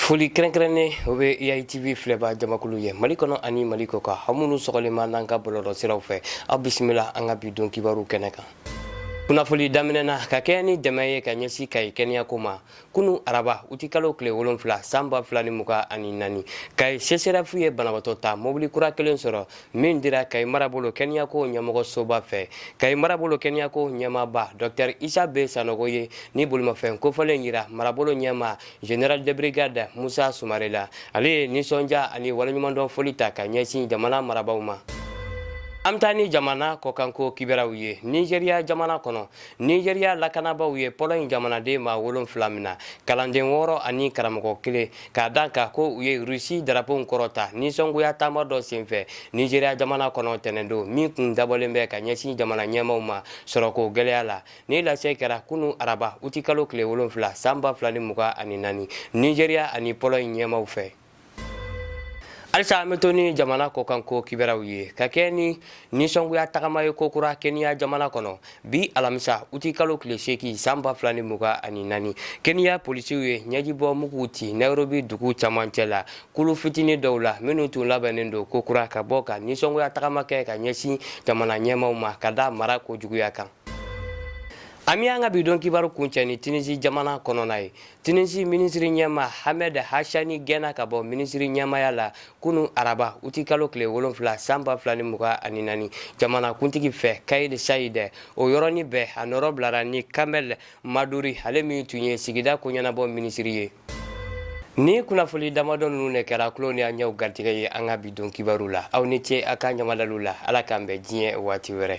foli kɛrɛnkɛrɛnnen o bɛ eitv filɛba jamakulu ye mali kɔnɔ ani mali kɔkan aw minnu sɔgɔlenma n'an ka bɔlɔlɔ siraw fɛ aw bisimila an ka bi don kibaru kɛnɛ kan kunnafoli daminɛ na ka kɛɲɛ ni dɛmɛ ye ka ɲɛsin kayi kɛnɛyako ma kunu araba utikalo tile wolonfila san ba fila ni mugan ani naani kayi sesɛrɛfu ye banabaatɔ ta mobili kura kelen sɔrɔ min dira kayi marabolo kɛnɛyako ɲɛmɔgɔsoba fɛ kayi marabolo kɛnɛyako ɲɛmaaba dɔktɛr isa be sanogo ye ni bolimafɛn kofɔlen yira marabolo ɲɛma general de brigade musa sumare la ale ye nisɔndiya ani waleɲumandɔn foli ta ka ɲɛsin jamana marabaw ma an bɛ taa ni jamana kɔkanko kibaruw ye nizeriya jamana kɔnɔ nizeriya lakanabaaw ye pɔlɔɲi jamanaden maa wolonfila mina kalanden wɔɔrɔ ani karamɔgɔ kelen k'a da a kan ko u ye rusi darapow kɔrɔta nisɔngoya taama dɔ senfɛ nizeriya jamana kɔnɔ tɛnɛndon min kun dabɔlen bɛ ka ɲɛsin jamana ɲɛmaw ma sɔrɔko gɛlɛya la ni lase kɛra kunu araba utikalo tile wolonfila san ba fila ni mugan ani naani nizeriya ani pɔlɔɲi ɲɛmaw fɛ halisa an bɛ to ni jamana kɔkanko kibaruw ye ka kɛ ni nisɔngoya tagama ye kokura keniya jamana kɔnɔ bi alamisa uti kalo tile seegin san ba fila ni mugan ani naani keniya polisiw ye ɲɛjibɔ muguw ci nairobi dugu camancɛ la kulu fitini dɔw la minnu tun labɛnnen don kokura ka bɔ ka nisɔngoya tagama kɛ ka ɲɛsin jamana ɲɛmaw ma ka da marako juguya kan an bɛ an ka bi don kibaru kuncɛ ni tunisi jamana kɔnɔna ye tunisi minisiri ɲɛma hamed hachani gɛnna ka bɔ minisiri ɲɛmaya la kunun araba uti kalo tile wolonfila san ba fila ni mugan ani naani jamanakuntigi fɛ kayid sayid o yɔrɔnin bɛɛ a nɔrɔ bilara ni kamɛl maduri ale min tun ye sigida ko ɲɛnabɔ minisiri ye ni kunnafoni damadɔ ninnu de kɛra kulo ni an ɲɛw garijɛgɛ ye an ka bi don kibaru la aw ni ce aw ka ɲamadalu la ala k'an bɛn diɲɛ waati wɛrɛ